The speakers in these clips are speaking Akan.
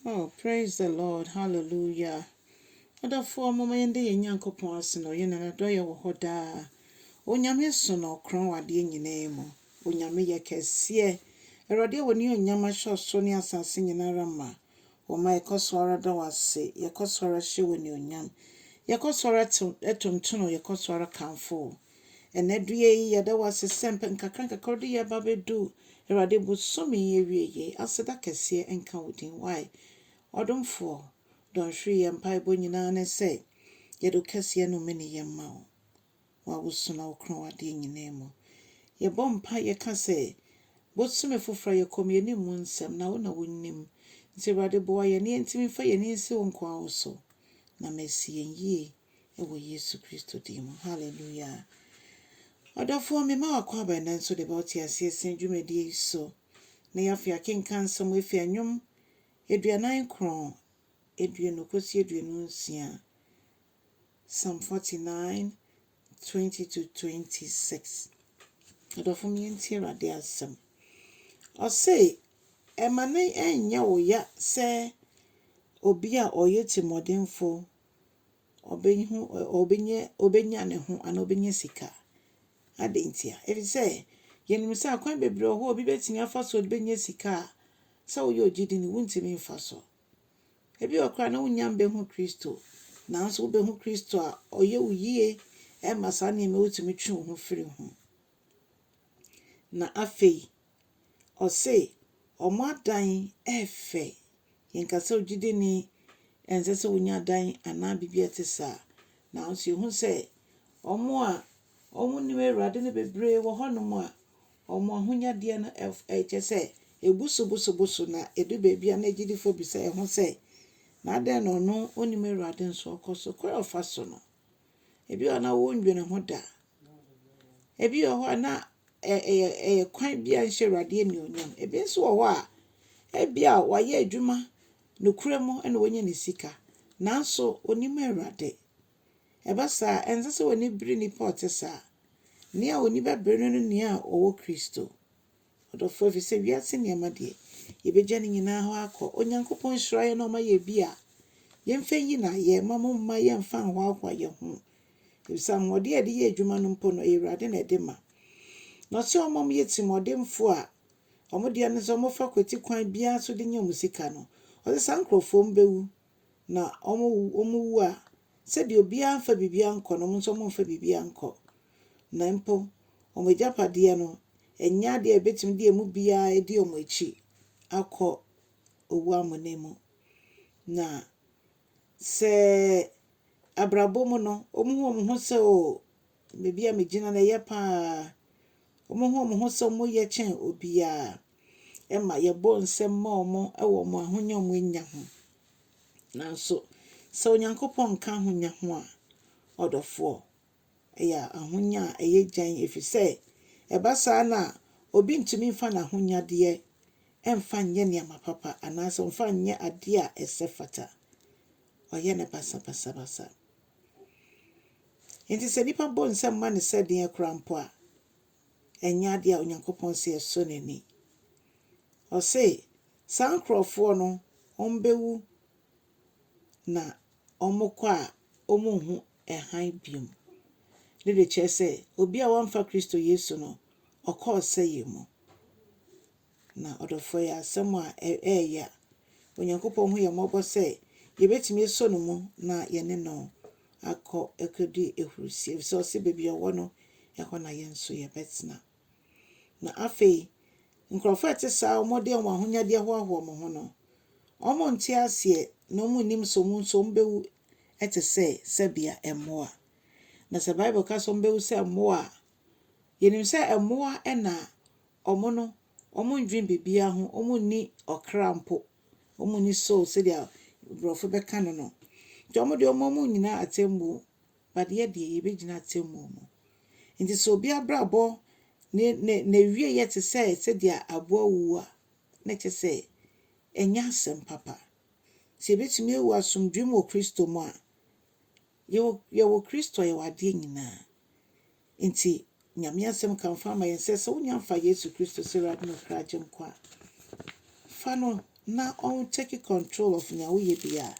Oh praise the Lord hallelujah adɔfoɔ moma yɛn da yɛn Nyankopɔn ase na ɔyɛ na nadɔ yɛ wɔ hɔ daa Onyame so na ɔkorɔn wɔ adeɛ nyinaa mu Onyame yɛ kɛseɛ Awurade a wɔni onyam ahyɛ ɔsoro ne asase nyinaa ara ma Ɔma yɛkɔso ara da wo ase yɛkɔso ara hyɛ wo anuonyam yɛkɔso ara te ɛtontono yɛkɔso ara kamfo wo. Ɛnnɛ dua yi, yɛda wo ase sɛ mpɛn kakra nkakra wode yɛn aba abɛduu Awurade bosome yi awieeɛ. Aseda kɛseɛ nka wo din. Wai, Ɔdomfoɔ, dɔnhwere yɛn mpaebɔ nyinaa ne sɛ yɛde wo kɛseyɛ ne wo meneyɛ mma wo. Wo a wosu na wokorɔn wɔ adeɛ nyinaa mu. Yɛbɔ mpa yɛka sɛ bosome foforɔ a yɛkɔ mu yɛnim mu nsɛm na wo na wonim. Nti Awurade boa yɛn na yɛntumi mfa yɛn ani nsi wo nkoa wo so na ma ɛsi yɛn yie. wɔ Yesu Kristo din mu. Hallelujah! Ɔdɔfoɔ, mema wo akwaaba nnɛ nso de ba wo teaseɛ sin dwumadie yi so, na yɛ afei akenkan nsɛm efi Nnwom aduanan nkron, aduonu kɔsi aduonu nsia, Psalm 49, 20 to 26. Ɔdɔfoɔ, me yɛntie Awurade asɛm. Ɔse, ɛma no ɛnyɛ wo ya sɛ obi a ɔyɛ timmɔdenfo ɔbɛhu ɛ ɔbɛnya ɔbɛnya ne ho anaa ɔbɛnya sika. Adɛn ntia? Ɛfiri sɛ, yɛnim sɛ akwan bebree wɔ hɔ a obi bɛtumi afa so de bɛnya sika a sɛ woyɛ ogyidini wontumi mfa so. Ebi wɔ hɔ koraa na wonnya mmɛhu Kristo. Nanso wobɛhu Kristo a, ɔyɛ wo yie ɛma saa nneɛma yi wotumi twe wo ho firi ho. Na afei, Ɔse ɔmo adan ɛfɛ. Yɛn ka sɛ ogyidini ɛnsɛ sɛ onya adan anaa biribi a ɛte saa. Nanso yɛhu sɛ ɔmo a ɔmo nim Awurade no bebree wɔ hɔ nom a ɔmo ahonyadeɛ no kyɛ sɛ ɛbu so bo so bo so na ɛdu baabi a na agyidifoɔ bisa ɛho sɛ, Na adɛn na ɔno ɔnim Awurade nso ɔkɔ so kwan a ɔfa so no? Ebi wɔ hɔ a na wondwen ho da. Ebi wɔ hɔ a na ɛ ɛyɛ ɛyɛ kwan bi a ɛnhyɛ Awurade anuonyam. Ebi nso wɔ hɔ a, ebia wɔayɛ adwuma nokorɛ mu na wɔanya ne sika, nanso ɔnnim Awurade. Ɛba saa a, ɛnsɛ sɛ w'ani bere nnipa a wɔte saa. Nea w'ani bɛbere no ne nea ɔwɔ Kristo. Ɔdɔfoɔ, ɛfiri sɛ wiase nneɛma deɛ, yɛbɛgya ne nyinaa hɔ akɔ. Onyankopɔn nhyira yɛn na ɔma yɛn bi a, yɛmfa nyi no ayɛ, mma momma yɛmfa nhoahoa yɛn ho, ɛfiri sɛ ahoɔden a yɛde yɛ adwuma no mpo no, ɛyɛ Awurade na ɛde ma. Na ɔse wɔn a wɔyɛ atirimuɔdenfoɔ a, wɔn deɛ no sɛ wɔfa kwati kwan biara so de nya wɔn sika no, ɔse saa nkurɔfoɔ no bɛwu. na wɔn wu a, sɛdeɛ obiara mfa biribiara nkɔ no, wɔn nso wɔmfa biribiara nkɔ. Na mpo wɔn agyapadeɛ no, ɛnyɛ adeɛ a ɛbɛtumi de emu biara adi wɔn akyi akɔ owu amena mu. Na sɛ abrabɔ mu no, wɔhu wɔn ho sɛ, o, Baabi a megyina no, ɛyɛ pa ara. Wɔhu wɔn ho sɛ wɔyɛ kyɛn obiara. Ɛma yɛbɔ nsam ma wɔn wɔ wɔn ahonya a wɔanya ho. Nanso, sɛ Onyankopɔn nka ahonya ho a, ɔdɔfoɔ, ɛyɛ ahonya a ɛyɛ gyann ɛfiri sɛ ɛba saa no a, obi ntumi mfa n'ahonyadeɛ mfa nyɛ nneɛma papa anaasɛ ɔmfa nyɛ adeɛ a ɛsɛ fata. Ɔyɛ no basabasabasa. Enti sɛ nnipa bɔ nsam ma no sɛ den koraa mpo a, ɛnyɛ ade a Onyankopɔn se ɛsɔ n'ani. Ɔse saa nkurɔfoɔ no wɔbɛwu na wɔkɔ a wɔnhu hann bio. Ne de kyerɛ sɛ obi a wamfa Kristo Yesu no, ɔkɔ ɔsɛeɛ mu. Na ɔdɔfo, ɛyɛ asɛm a ɛyɛ ya. Onyankopɔn ho yɛ mmɔbɔ sɛ yebetumi asɔ no mu na yɛne no akɔ akodi ahurusi, efisɛ ɔse baabi a ɔwɔ no, ɛhɔ na yɛn nso yɛbɛtena. Na afei, nkurɔfo a ɛte saa a wɔde wɔn ahonyadeɛ hoahoa wɔn ho no, wɔnte aseɛ na wɔnnim sɛ wɔn nso wɔbɛwu te sɛ sɛbea mmoa. Na sɛ Bible ka sɛ wɔbɛwu sɛ mmoa a, yɛnim sɛ mmoa na Wɔn no, wɔndwen biribiara ho, wɔnni ɔkra mpo, wɔnni soul sɛdeɛ brɔfo bɛka no no. Nti wɔn deɛ wɔn nnyina atɛmmuo, but yɛ deɛ yɛbɛgyina atɛmmuo mu. Nti sɛ obi abrabɔ ne ne n'awieɛ te sɛ sɛdeɛ aboa wuo a, na ɛkyɛ sɛ ɛnyɛ asɛm papa. Sɛ yɛbɛtumi awu asomdwoeɛ mu wɔ Kristo mu a, yɛwɔ yɛwɔ Kristo a yɛwɔ adeɛ nyinaa. Ntsi, Nyame Asɛm ka mfaa ma hɛn sɛ, sɛ wonya mmfa Yesu Kristo sɛ Ewuradze na Ɔkra Agyenkwa a, fa No na Ɔn take control of nyia woyɛ biara,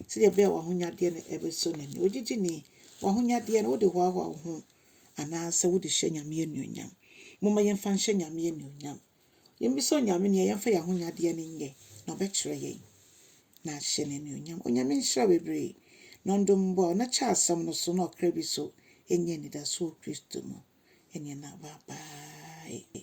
tsedeɛ bɛyɛ a w'ahonyadeɛ no bɛsɔ N'enyi. Ogyegye Ni, w'ahonyadeɛ no, wode hoahoa woho anaa sɛ wode hyɛ Nyame enuonyam. Momma yɛmfa nhyɛ Nyame enuonyam. Yɛmmisa Onyame nea yɛmfa yɛn ahonyadeɛ no nyɛ, na ɔbɛkyerɛ yɛn, na ahyɛ no anuonyam. Onyame nhyira bebree, na ɔndom mmoa wo, na kyɛ asɛm no so, na ɔkra bi so nya anidasoɔ wɔ Kristo mu. Ɛneɛ na bye bye.